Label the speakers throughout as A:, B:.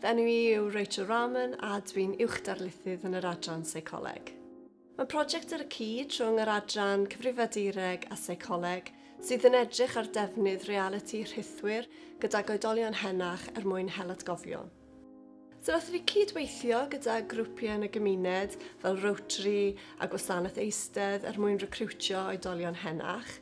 A: Fy enw i yw Rachel Rahman a dwi'n Uwch Darlithydd yn yr Adran Seicoleg. Mae prosiect ar y cyd rhwng yr Adran Cyfrifiadureg a Seicoleg sydd yn edrych ar defnydd realiti rhithwir gydag oedolion henach er mwyn hel atgofion. So wnaethon ni cyd-weithio gyda grwpiau yn y gymuned fel Rotary a Gwasanaeth Eistedd er mwyn recriwtio oedolion henach.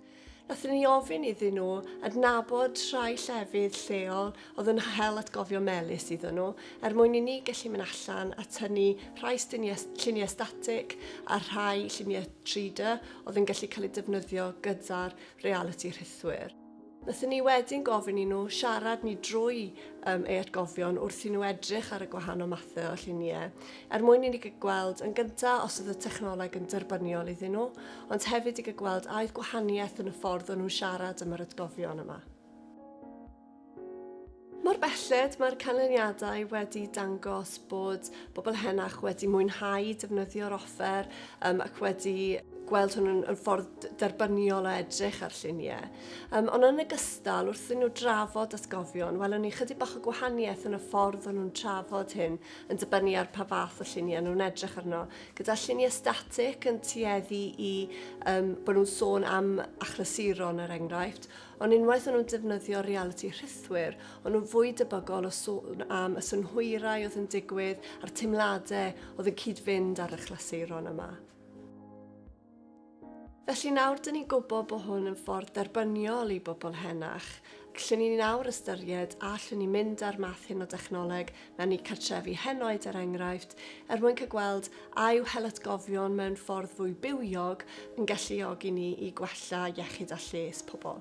A: Nathon ni ofyn iddyn nhw adnabod rhai llefydd lleol oedd yn hel atgofion melys iddyn nhw, er mwyn i ni gallu mynd allan a tynnu rhai lluniau, lluniau static a rhai lluniau 3D oedd yn gallu cael eu defnyddio gyda'r realiti rhithwir. Nathon ni wedyn gofyn i nhw siarad ni drwy um, ei atgofion wrth i nhw edrych ar y gwahanol mathau o lluniau. er mwyn i ni gygweld yn gyntaf os oedd y technoleg yn derbyniol iddyn nhw, ond hefyd i gygweld a oedd gwahaniaeth yn y ffordd o'n nhw'n siarad am yr atgofion yma. Mor belled mae'r canlyniadau wedi dangos bod bobl henach wedi mwynhau defnyddio'r offer um, ac wedi gweld hwn yn, yn ffordd derbyniol o edrych ar lluniau. Um, ond yn ogystal, wrth i nhw drafod atgofion, welwn ni chydig bach o gwahaniaeth yn y ffordd o'n nhw'n trafod hyn yn dibynnu ar pa fath o lluniau nhw'n edrych arno. Gyda lluniau static yn tueddu i um, bod nhw'n sôn am achlysuron er enghraifft, ond unwaith o'n nhw'n defnyddio reality rhithwyr, o'n nhw'n fwy debygol o sôn am y synhwyrau oedd yn digwydd a'r teimladau oedd yn cyd-fynd â'r achlysuron yma. Felly nawr dyn ni'n gwybod bod hwn yn ffordd derbyniol i bobl henach, lle ni nawr ystyried a allwn ni mynd â'r math hyn o dechnoleg mewn i cartrefi henoed er enghraifft, er mwyn cael gweld a yw helatgofion mewn ffordd fwy bywiog yn galluogi ni i gwella iechyd a lles pobl.